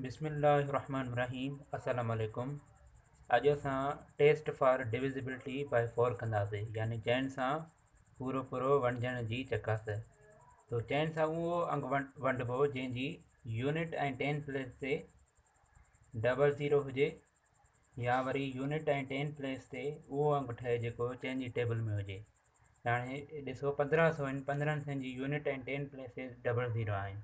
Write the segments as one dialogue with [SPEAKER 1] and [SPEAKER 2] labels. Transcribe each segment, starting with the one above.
[SPEAKER 1] بسم الله الرحمن الرحيم السلام عليڪم اڄ اسان test for divisibility by four ڪنداسي يعني چئن سان پورو پورو ونڊجڻ جي چڪاس تو چئن سان اهو انگ ونڊبو جنهن جي يونٽ ۽ ٽين پليس تي ڊبل زيرو هجي يا وري يونٽ ۽ ٽين پليس تي اهو انگ ٺهي جيڪو چئن جي ٽيبل ۾ هجي هاڻي ڏسو پندرهن سوين پندرهن سين جي يونٽ ۽ ٽين پليس تي ڊبل زيرو آهن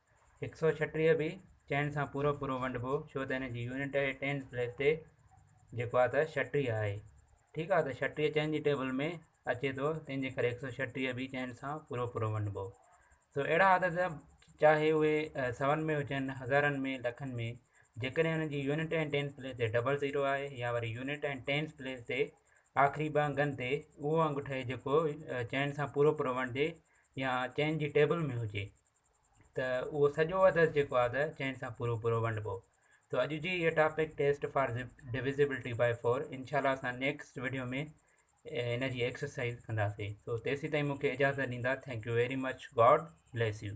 [SPEAKER 1] هڪ سؤ ڇٽيهه به چئن سان پورو پورو ونڊبو ڇو ته هن جي يونٽ آهي ٽينز پليس تي جيڪو آهي ته ڇٽيهه آهي ٺيڪ آهي ته ڇٽيهه چئن جي ٽيبل ۾ اچي ٿو تنهن جي ڪري هڪ سؤ ڇٽيهه به چئن سان پورو پورو ونڊبو سو اهڙا عدد چاهي اهي سون ۾ هجن هزارن ۾ لکن ۾ جيڪڏهن هن جي يونٽ ۽ ٽينز پليس تي ڊبل زيرو آهي يا وري يونٽ ۽ ٽينز پليس تي آخري ٻه انگن تي اهو انگ ٺهي جيڪو چئن سان پورو پورو ونڊجي يا چئن جي ٽيبل ۾ هجي ته اهو سڄو عدد جيڪو آهي ته چئن سان پورو پورو ونڊبو تو اڄ جي هي topic test for divisibility by four انشاء الله اسان نيڪسٽ ويڊيو ۾ ان جي ايڪسرسائز ڪنداسي تو تيسي تائين مونکي اجازت ڏيندا thank you very much God bless U